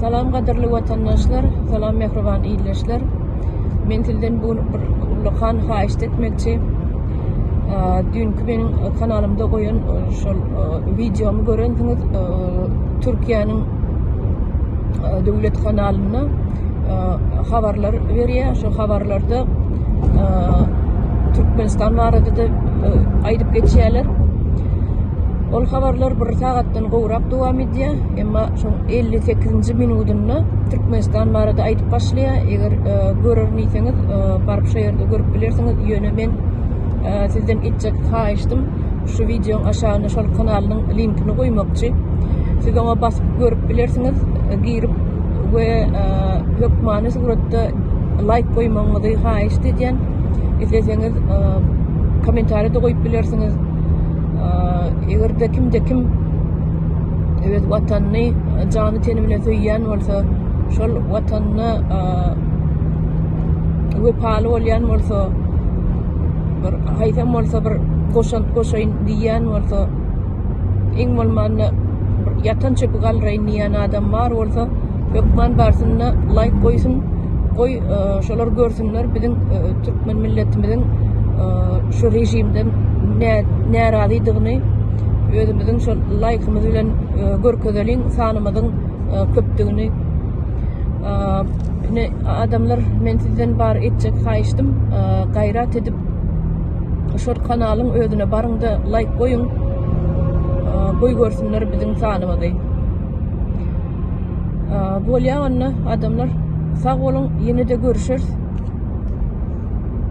Salam gadyrly watandaşlar, salam mähriban ildeşler. Men sizden bu bir ulakan haýyşt etmekçi. Düýnki meniň kanalymda goýan şol wideomy görensiňiz, Türkiýäniň döwlet kanalynda habarlar berýär. Şu habarlarda Türkmenistan barada da aýdyp geçýärler. Ol habarlar bir sagatdan gowrak dowam diýýär. Emma şoň 58-nji minudynda Türkmenistan barada aýdyp başlaýar. Eger e, görerin diýseňiz, e, baryp şu ýerde görüp bilersiňiz. Ýöne men e, sizden etjek haýyşdym şu wideoň aşagyna şol kanalynyň linkini goýmakçy. Siz oňa basyp görüp bilersiňiz, e, girip we e, hökmany suratda laýk goýmagyňyzy haýyşt edýän. Isleseňiz e, kommentariýa da goýup bilersiňiz. Eger-de kimde kim öz watanyny jany teni bilen söýýän bolsa, şol watanyna wepaly bolýan bolsa, bir haýsam bolsa bir goşant goşaýyn diýýän bolsa, iň bolmanda ýatan çöpi galdyraýyn diýýän adam bar bolsa, hökman barsyn-da laýk goýsun. şolar görsünler biziň türkmen milletimiziň şu rejimden närazydygyny özümiziň şol laýkymyz bilen görkezeliň sanymyzyň köpdügini ine adamlar men sizden bar etjek haýyşdym gaýrat edip şol kanalyň özüne baryňda laýk goýuň goý görsünler biziň sanymyzy Bolýa onda adamlar. Sag boluň, ýene-de görüşeris.